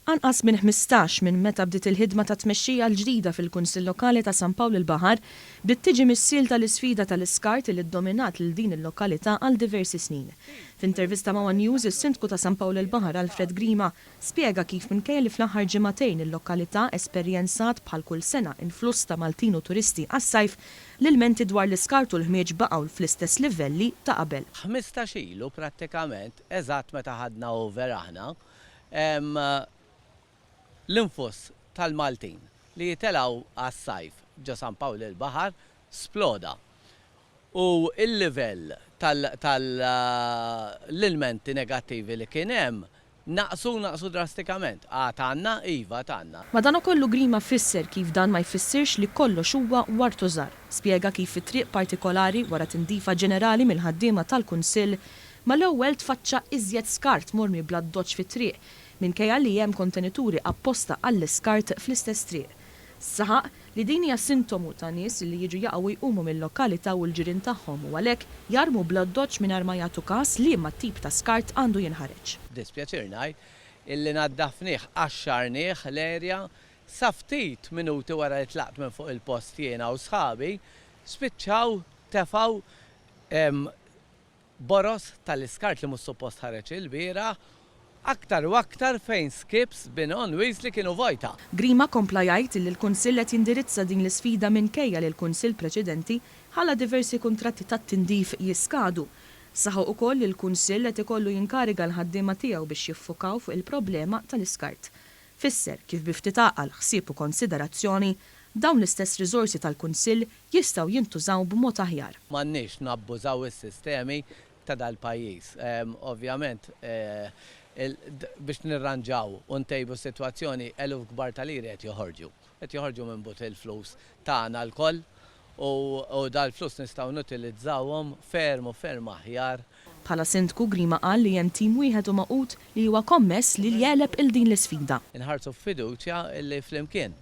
Anqas minn ħmistax minn meta bdiet il-ħidma tat-tmexxija l-ġdida fil-Kunsill Lokali ta' San Pawl il-Baħar, bdiet tiġi missielta l-isfida tal-iskart li ddominat lil din il-lokalità għal diversi snin. F'intervista ma' one News, is-Sindku ta' San Pawl il-Baħar Alfred Grima Spjega kif minkejja li fl-aħħar ġimagħtejn il-lokalità esperjenzat bħal kull sena influss ta' Maltin u turisti għas-sajf, l-ilmenti dwar l-iskart u l-ħmieġ baqgħu fl-istess livelli ta' qabel. Ħmistax ilu prattikament, eżatt meta ħadna over aħna, l-influss tal-Maltin li jitelgħu għas-sajf ġo San Pawl il-Baħar sploda u l-livell tal-ilmenti negattivi li kien hemm Naqsu, naqsu drastikament. Għad għandna? Iva, għad għandna. Madanakollu Grima fisser kif dan ma jfissirx li kollox huwa wartu żgħar. Spjega kif fi triq partikolari, wara tindifa ġenerali mill-ħaddiema tal-Kunsill, mal-ewwel tfaċċa iżjed skart mormi bl-addoċċ fit-triq, minkejja li hemm kontenituri apposta għall-iskart fl-istess triq. Saħaq li din hija sintomu ta' nies li jiġu jaqgħu u jqumu mil-lokalità u l-ġirien tagħhom u għalhekk jarmu bl-oddoċċ mingħajr ma jagħtu każ liema tip ta' skart għandu jinħareġ. B'dispjaċir ngħid illi naddafnih, qaxxarnih, l-erja, sa ftit minuti wara li tlaqt minn fuq il-post jiena u sħabi, spiċċaw tefgħu Boroż tal-iskart li mhux suppost ħareġ ilbieraħ, aktar u aktar fejn skips bin on wheels li kienu vojta. Grima kompla jgħid li l-Kunsill qed jindirizza din l-isfida minkejja li l-Kunsill preċedenti ħalla diversi kuntratti tat-tindif jiskadu. Saħaq ukoll li l-Kunsill qed ikollu jinkariga l-ħaddiema tiegħu biex jiffukaw fuq il-problema tal-iskart. Fisser kif bi ftit għaqal, ħsieb u konsiderazzjoni, dawn l-istess riżorsi tal-Kunsill jistgħu jintużaw b'mod aħjar. M'għandniex nabbużaw is-sistemi ta' dal-pajjiż. Ovvjament, biex nirranġaw u ntejbu s-sitwazzjoni, eluf kbar ta' liri qed joħorġu. Qed joħorġu minn but il-flus tagħna lkoll u dal-flus nistgħu nutilizzawhom ferm u ferm aħjar. Bħala Sindku, Grima qal li hemm tim wieħed u magħqud li huwa kommess li jegħleb il din l-isfida. Inħarsu b'fiduċja li flimkien,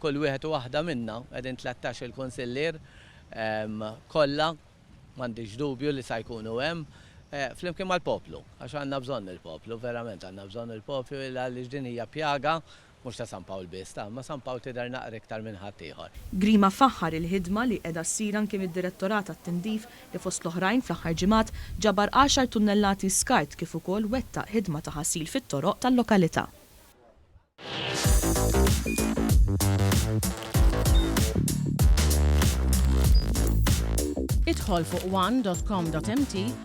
kull wieħed u waħda minna, qegħdin tlettax il Kunsillier kollha, m'għandix dubju li sa jkunu hemm, flimkien mal-poplu, għax għandna bżonn il-poplu, verament għandna bżonn il-poplu għaliex din hija pjaga Mhux ta' San Pawl biss, ta' imma San Pawl tidher naqra iktar minn ħadd ieħor. Grima faħħar il-ħidma li qiegħda ssir anki mid-Direttorat għat-Tindif li fost l-oħrajn fl-aħħar ġimgħat ġabar għaxar tunnellati skart kif ukoll wettaq ħidma ta' ħasil fit-toroq tal-lokalità. Idħol fuq one dot com dot mt